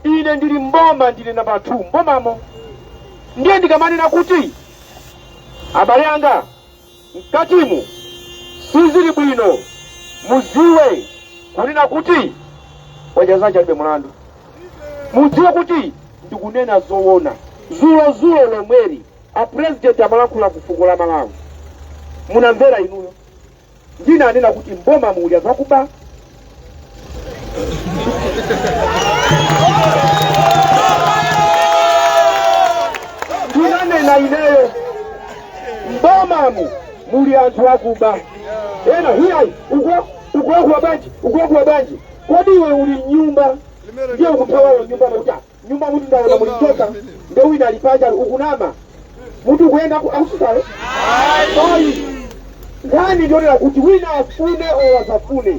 Ine ndili m'boma, ndine nambala 2 m'bomamo. Ndiye ndikamanena kuti abale anga mkatimu sizili bwino, mudziwe kunena kuti wadya zache alibe mlandu. Mudziwe kuti ndikunena zoona. Zulozulo lomweli a president amalankhula ku fuko la Malawi, munamvera inuyo? Ndinanena kuti m'bomamu muli anthu akuba. Ndinanena ineyo m'bomamu muli anthu akuba. Ena iyayi uko ukuwakuwa bwanji ukuwakuwa bwanji. Kodi iwe uli m'nyumba ndiye ukuthawayo nyumba nakuti nyumbamutu ndaona muli njoka nde wina ali panja ali ukunama mutu ukuyenda ku- akususayo ayi nkhani ndi yonena kuti wina afune olo asafune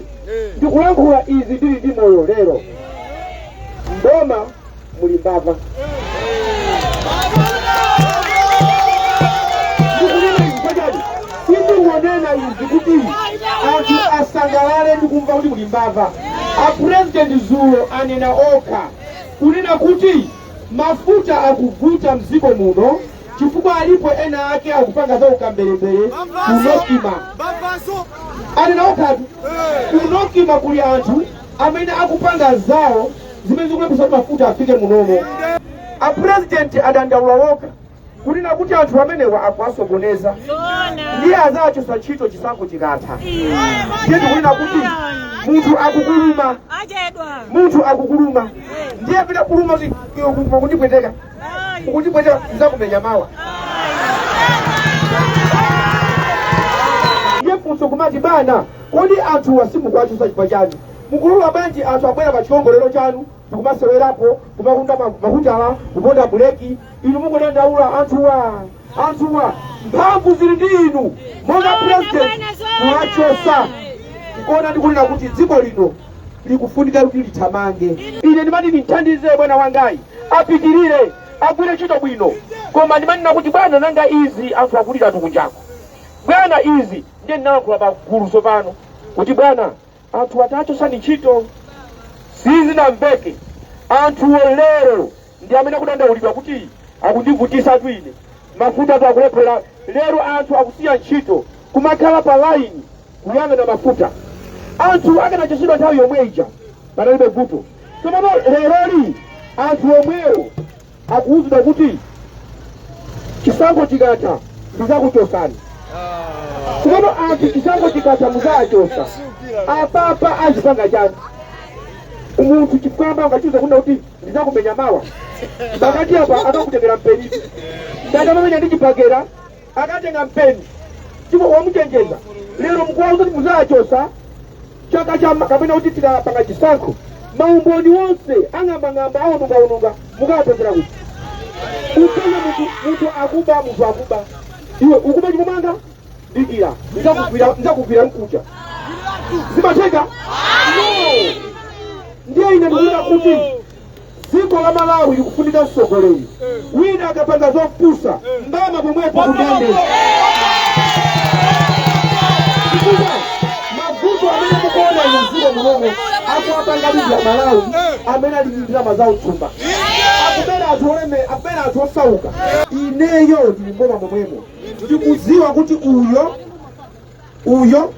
ndikulankhula izi ndili ndi moyo lero mboma muli mbava ndikunena izi pachani sindingonena izi kuti anthu asangalale ndikumva kuti muli mbava a president zulo anena okha kunena kuti mafuta akuvuta mdziko muno chifukwa alipo ena ake akupanga za ukambelembele ku NOCMA anena okhatu ku NOCMA kuli anthu amene akupanga zawo zimene zikulepheretsa kuti mafuta afike munomo apurezidenti adandaula wokha kunena kuti anthu amenewa akuwasokoneza ndiye azachotsa ntchito chisankho chikatha ndiye tikunena kuti munthu akukuluma munthu akukuluma ndiye pita kuluma kuti iwe kuti pakundipweteka ukundipweteka ndizakumenya mawa ndiye funso kumati bwana kodi anthuwa simukuwachotsa chifukwa chani mukulula bwanji anthu abwera pa chiwongolero chanu ndikumasewerapo kumagunda ma- mahutala kuponda buleki inu mukudandaula anthuwa anthuwa mphamvu zili ndi inu monga president kuwachosa kuona ndikunena kuti dziko lino likufunika kuti lithamange ine ndimati ndithandize bwana wangayi apitirire agwire ntchito bwino koma ndimanena kuti bwana nanga izi anthu akuliratu kunjako bwana izi ndiye ndinalankhula pa gulu tsopano kuti bwana anthuwa tachosani ntchito sizinamveke anthuwo lero ndi amene akudandaulidwa kuti akundivutisatu ine mafutatu akulephera lero anthu akusiya ntchito kumakhala pa laini kuyang'ana mafuta anthu akanachotsedwa nthawi yomwe ija panalibe vuto tsopano leroli anthu omwewo akuwuzidwa kuti chisankho chikatha ndizakuchosani tsopano anthu chisankho chikatha muzawachosa apapa azipanga chani umunthu chifukwa ambayo ngachiuza kunena kuti ndidzakumenya mawa pakati apa akakutengera mpeni ngati umamumenya ndi chibagera akatenga mpeni chifukwa wamuchenjeza lero mukuwauza kuti muzawachosa chaka cha kapena kuti tikapanga chisankho maumboni onse ang'ambang'amba aonungaonunga mukawapezera kuti utenge munthu akuba munthu akuba iwe ukuba ndikumanga dikira ndizakugwira ndizakugwira mkucha zimatheka no ndiye ine ndikuona kuti dziko la malawi likufunika mtsogoleri wina akapanga zopusa mbama pomwepo kundende chifukwa mavuto amene mukuona inu mdziko munomo akuwapanga ndi amalawi amene ali ndi ndalama zawo mthumba akubera anthu oleme akubera anthu osauka ineyo ndili mboma momwemo ndikudziwa kuti uyo uyo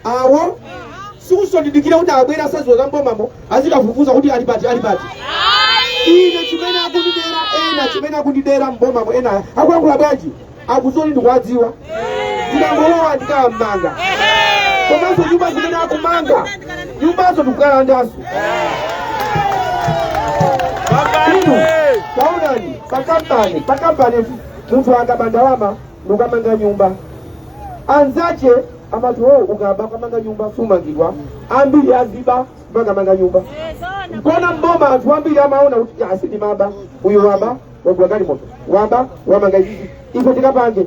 awo sikusondidikira kuti abwera asadziwa za mbomamo azikafufuza kuti ali pati ali pati ine chimene akundidera ena amene akundidera mbomamo ena akuyankhula bwanji akuzoni ndikuwadziwa ndikangolowa ndikawamanga komanso nyumba zimene akumanga nyumbazo ndikukalandanso inu taonani pakampani pakampani munthu akaba ndalama nukamanga nyumba anzache amati o ukaba ukamanga nyumba sumangidwa ambiri aziba nkumakamanga nyumba nchona mboma anthu ambiri amaona kuti asa ndimaba uyo waba wagula galimoto waba wamanga izizi ife tikapange